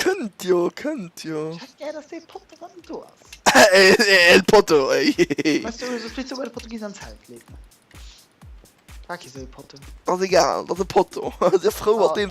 Kënnt jo, kënnt jo. Ass egal, et ass e Potto. Sief frou mat deem.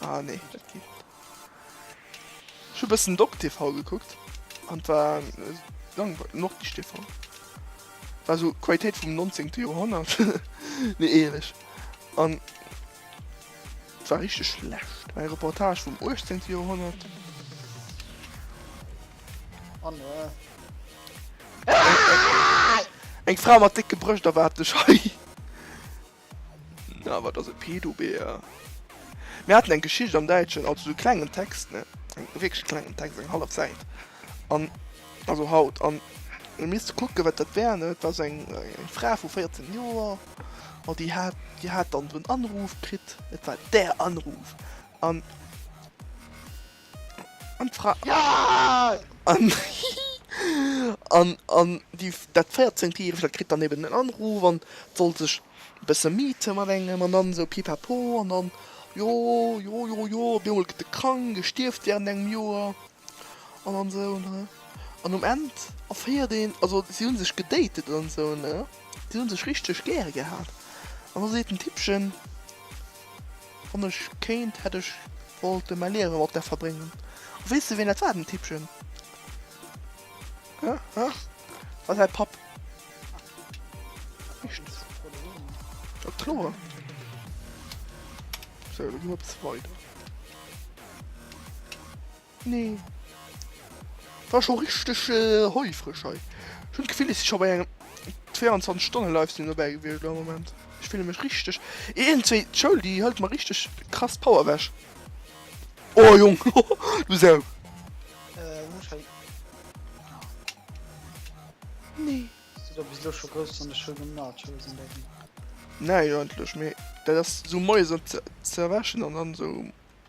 Ah nee, dat geet. Ech hu bëssen Doc TV gekuckt an war äh, lang noch die TV. War so Qualitéit vum 19. Joerhonnert. nee ehrlech. An war richtig schlecht. Eng Reportage vum 18. Joerhonnert. Oh nee. Eng Fra mat décke Brëscht erwaart dech hei. Na, wat ass e Pedo-Bär? Mir haten eng Geschicht am Däitschen, also sou klengen Text, ne, eng wierklech klengen Text, eng hallef Säit, an, also haut, an elo misst de kucken, wat dat war, ne, et war sou eng Fra vu 14 Joer, an déi hat, déi hat dann sou en Anruf kritt, et war der Anruf, an. An d'Fra. An, hihi, an, an déi, dat 14 Järegt, dat kritt dann eben den Anruf an soll sech e bësse meeten mat engem an dann esou Pipapo an dann, jo, jo, jo, jo, op eemol gëtt e krank, e stierft während engem Joer an, an esou, ne. An um Enn erféiert een, also si hu sech gedatet an esou, ne, si hu sech richteg gär gehat an da seet den Tippchen. Wann ech kéint hätt ech wollte mäi Liewe mat där verbréngen. A weess de ween dat war, den Tippchen? Hä? Hä? Et war säi Papp. Echt? Ja kloer. Sou, da gi mer op zweider. Nee. War scho richteg heufreg hei. Ech hunn d'Gefill, ech si scho bei engem 24 Stonne Livestream dobäi gewiescht am Moment. Ech fille mech richteg. Iergendwéi d'Schoul, déi hëlt mer richteg krass d'Power ewech. Oh Jong, du Sau! Nee. Bist du da bis elo scho grouss an der Schoul um Nacho sinn da ginn? Näi, eigentlech, mee dat ass esou moies an ze erwächen an dann esou.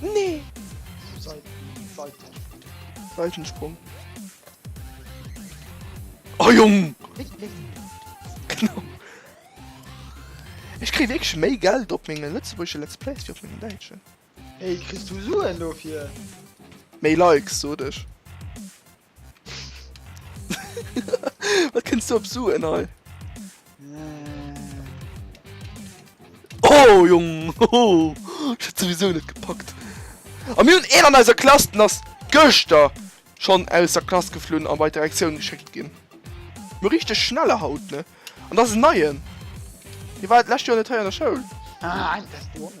Nee! Seitensprung. Oh Jung! Genau. Ech krieg wirklich méi Geld op menge lëtzebuergesche Let's Plays wie op mengem däitschen. Hey, kriss du Suen dofir? Méi Likes, sot ech. Wat kënns du op Suen hei? Oh Jong oh, ech hätt souwisou net gepackt. A mir hunn een an eiser Klass, den ass gëschter schonn aus der Klass geflunn a bei d'Direktioun geschéckt ginn. Mir richteg schnelle haut, ne? An dat ass en Neien. Hie war d'lescht Joer net hei an der Schoul. Ah, eng Testioun.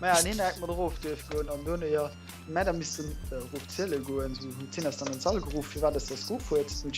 Ma ja, neen mat erof duerf goen an done jo Mäder missten äh, ruf zielle goen, so hun Zinn ass dann an Sall geruff, fir wat ass der Scoop huet,